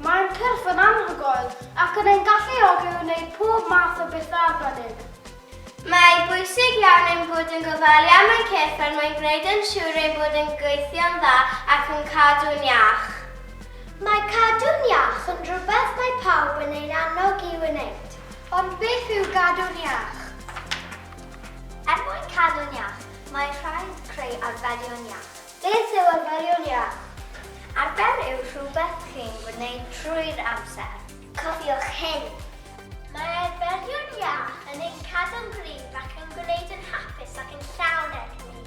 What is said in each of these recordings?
Mae'n cyrff yn anhygoel ac yn ein galluogi i wneud pob math o bethau arbennig. Mae'n bwysig iawn ein bod yn gofalu am ein cyrff er mwyn gwneud yn siŵr ei bod yn gweithio'n dda ac yn cadw'n iach. Mae cadw'n iach yn rhywbeth mae pawb yn ein annog i wneud. Ond beth yw gadw'n iach? Er mwyn cadw'n iach, mae'n rhaid creu arferion iach. Beth yw arferion iach? Arfer yw rhywbeth chi'n gwneud trwy'r amser. Cofiwch hyn. Mae arferion iach yn ein cadw'n gryf ac yn gwneud yn hapus ac yn llawn egni.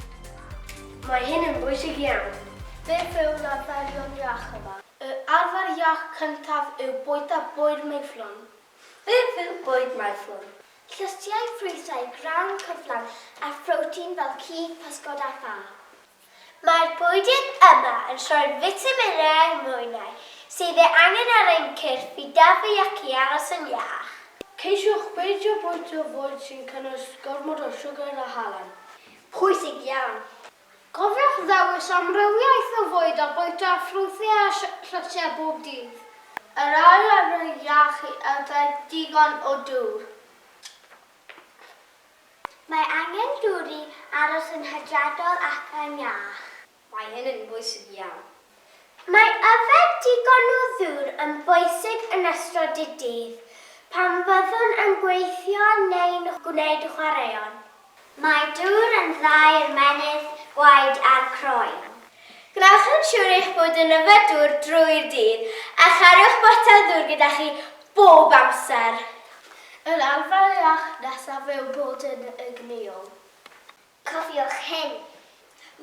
Mae hyn yn bwysig iawn. Beth yw'r arferion iach yma? Y arfer iach cyntaf yw bwyta bwyd meiflon. Fe fydd bwyd maethlon, llystiau ffrwythau grawn cyflawn a phrotein fel cig, pysgod a ffa. Mae'r bwydydd yma yn rhoi'r fitaminau a'r mwynau sydd ei angen ar ein cyrff i dyfu ac i aros yn iach. Ceisiwch beidio bwyta bwyd sy'n cynnwys gormod o siwgr a halen. Pwysig iawn! Cofiwch ddewis amrywiaeth o fwyd a bwyta ffrwythau a siocletiau bob dydd. Yr ail arfer iach yw yfed digon o dŵr. Mae angen dŵr i aros yn hygiadol ac yn iach. Mae hyn yn bwysig iawn. Mae yfed digon o ddŵr yn bwysig yn ystod y dydd pan fyddwn yn gweithio neu'n gwneud chwaraeon. Mae dŵr yn dda i'r menydd, gwaed a'r croen. Gwnewch yn siŵr eich bod yn yfed dŵr drwy'r dydd a chariwch botel ddŵr gyda chi bob amser. Yr arfer iach nesaf yw bod yn egnïol. Cofiwch hyn,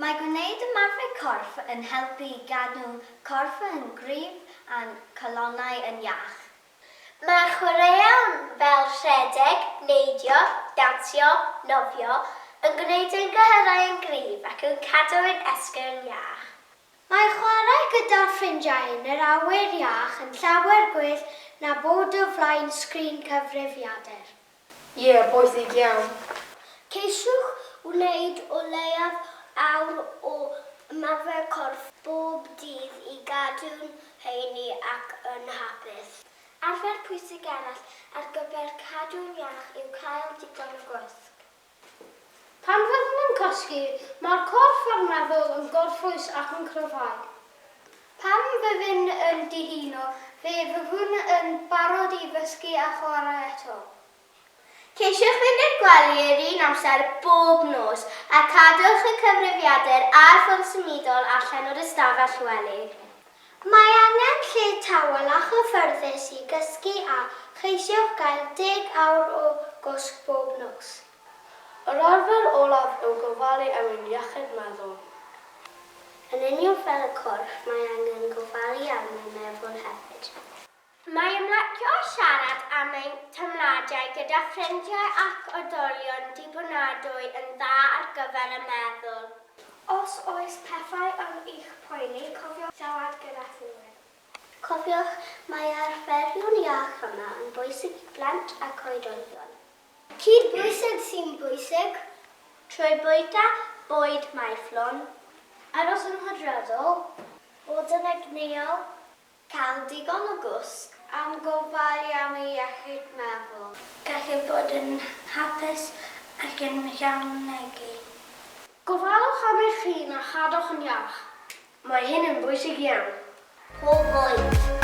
Mae gwneud ymarfer corff yn helpu i gadw corff yn gryf a'n calonnau yn iach. Mae chwaraeon fel rhedeg, neidio, dawnsio, nofio, yn gwneud ein cyhyrau yn gryf ac yn cadw ein esgyrn iach. Mae chwarae gyda ffrindiau yn yr awyr iach yn llawer gwell na bod o flaen sgrin cyfrifiadur. Ie, bwysig iawn. Ceisiwch wneud o leiaf awr o ymarfer corff bob dydd i gadw'n heini ac yn hapus. Arfer pwysig arall ar gyfer cadw'n iach yw cael digon o gwsg. Pan fyddwn yn cysgu, mae'r corff a'r meddwl yn gorffwys ac yn cryfhau. Pan fyddwn yn dihuno, fe fyddwn yn barod i ddysgu a chwarae eto. Ceisiwch fynd i'r gwely yr un amser bob nos, a cadwch y cyfrifiadur a'r ffôn symudol allan o'r ystafell wely. Mae angen lle tawel a chyffyrddus i gysgu a cheisiwch gael deg awr o gwsg bob nos. Yr arfer olaf yw gofalu am ein iechyd meddwl. Yn union fel y corff, mae angen gofalu am ein meddwl hefyd. Mae ymlacio a siarad am ein teimladau gyda ffrindiau ac oedolion dibynadwy yn dda ar gyfer y meddwl. Os oes pethau yn eich poeni, cofiwch siarad gyda rhywun. Cofiwch, mae arferion iach yma yn bwysig i blant ac oedolion. Cydbwysedd sy'n bwysig trwy bwyta bwyd maethlon, aros yn hydredol, bod yn egnïol, Cael digon o gwsg am gofalu am ei iechyd meddwl. Gallu bod yn hapus ac yn llawnegu. Gofalwch am eich hun a chadwch yn iach. Mae hyn yn bwysig iawn. Pob oed.